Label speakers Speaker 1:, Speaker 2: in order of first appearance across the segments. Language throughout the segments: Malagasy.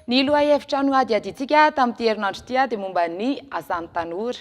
Speaker 1: Ny lohahevitra nohadihadiantsika tamin'ity herinandro ity dia momba ny asan'ny tanora.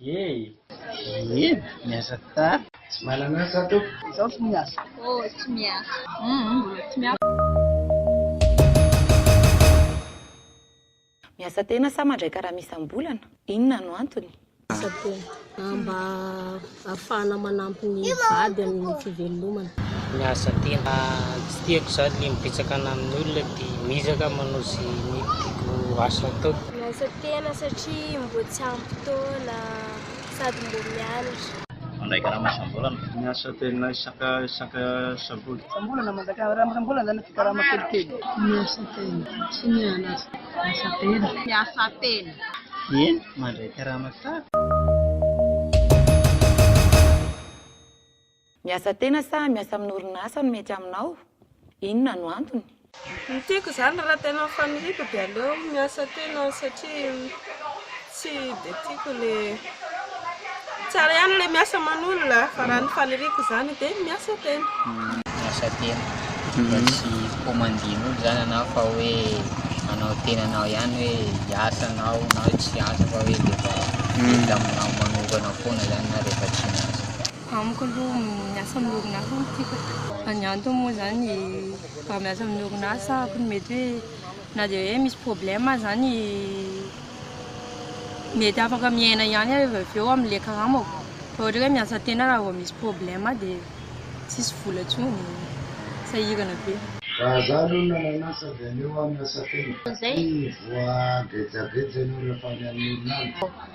Speaker 2: Iiee miasa tsara. Tsy manana asa tompoko. Izaho
Speaker 3: tsy
Speaker 4: miasa. Oh tsy miasa.
Speaker 3: Humm
Speaker 1: mbola tsy miasa. Miasa tena sa mandray karama isam-bolana? Inona no antony? Miasa tena.
Speaker 4: Mba ahafahana manampy ny vady amin'ny fivelomana. Miasa
Speaker 2: tena. Tsy tiako izany ny mibetsaka any amin'ny olona dia mizaka manao izay ny tiako asa ataoko. Miasa tena
Speaker 5: satria mboa tsy ampy fotoana sady mboa mianatra. Mandray karama
Speaker 2: isam-bolana. Miasa tena isaka isaka sabotsy. Isam-bolana mandray
Speaker 3: karama isam-bolana na fikarama kelikely. Miasa tena sy mianatra. Miasa tena. Miasa tena.
Speaker 4: Eny,
Speaker 2: mandray karama tsara.
Speaker 1: Miasa tena sa miasa amin'ny orinasa no mety aminao? Inona no antony? Ny tiako izany
Speaker 3: raha tena mifaniriaka dia aleo miasa tena satria tsy dia tiako ilay, tsara ihany ilay miasa aman'olona fa raha ny faniriako izany dia miasa tena. Miasa
Speaker 2: tena fa tsy commandin'olona izany anao fa hoe anao tenanao ihany hoe hiasa anao na tsy hiasa fa hoe dia efa mety aminao manokana foana izany na rehefa tsy miasa. Amiko aloha
Speaker 5: miasa amin'ny orinasa no tiako, ny antony moa izany raha miasa amin'ny orinasa aho dia mety hoe na dia hoe misy problème aza izany mety afaka miaina ihany aho avy eo amin'ilay karamako fa ohatra hoe miasa an-tena raha vao misy problème dia tsisy vola intsony, sahirana be. Raha izaho aloha no nanan'asa dia aleo aho miasa an-tena satria voagejageja
Speaker 6: ianao rehefa any amin'ny orinasa.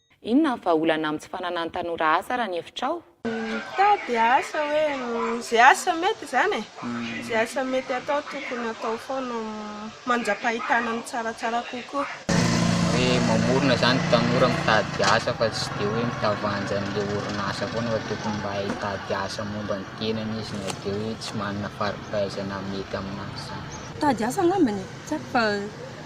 Speaker 1: Inona ny vahaolana amin'ny tsy fananan'ny tanora asa raha ny hevitrao? Mitady
Speaker 3: asa hoe izay asa mety izany e, izay asa mety atao tokony atao foana mandrapahitana ny tsaratsara kokoa. Hoe
Speaker 2: mamorona izany tanora mitady asa fa tsy dia hoe mitavanja an'ilay orinasa foana fa tokony mba hay hitady asa momba ny tenany izy na dia hoe tsy manana fari-pahaizana mety amin'azy izany. Mitady asa angambany
Speaker 5: e, tsy haiko fa.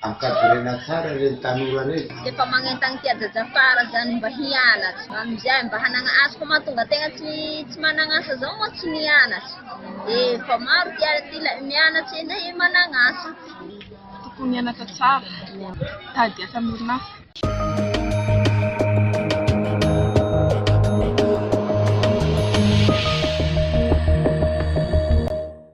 Speaker 6: Ankavirena tsara reny tanora reny. Dia efa magnentagna ty
Speaker 4: ajaja fara zany mba hianatra amizay mba hanagna asa fa mahatonga tegna tsy tsy managna asa zao moa tsy nianatra de efa maro ty ary ty ilay mianatra eny e managna asa
Speaker 3: tokony
Speaker 4: hianatra
Speaker 3: tsara mitady asa
Speaker 4: amin'ny orinasa